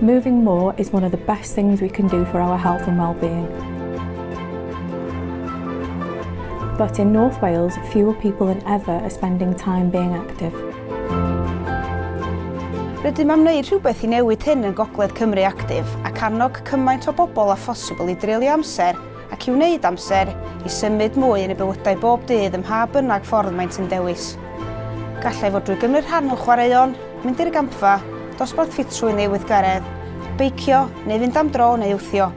Moving more is one of the best things we can do for our health and well-being. But in North Wales, fewer people than ever are spending time being active. Rydym am wneud rhywbeth i newid hyn yn Gogledd Cymru Actif ac annog cymaint o bobl â phosibl i dreulio amser ac i wneud amser i symud mwy yn eu bywydau bob dydd ym mha bynnag ffordd maent yn dewis. Gallai fod drwy gymryd rhan mewn chwaraeon, mynd i'r gampfa, dosbarth ffitrwydd neu weithgaredd, beicio neu fynd am dro neu wthio,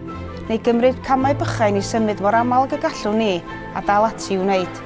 neu gymryd camau bychain i symud mor aml ag y gallwn ni, a dal ati i'w wneud.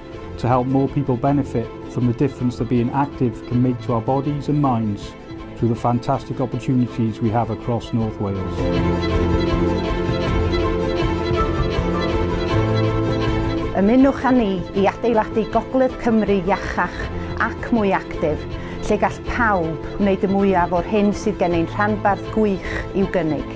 to help more people benefit from the difference that being active can make to our bodies and minds through the fantastic opportunities we have across North Wales. Ymunwch â ni i adeiladu Gogledd Cymru iachach ac mwy actif, lle gall pawb wneud y mwyaf o'r hyn sydd gen ein rhanbarth gwych i'w gynnig.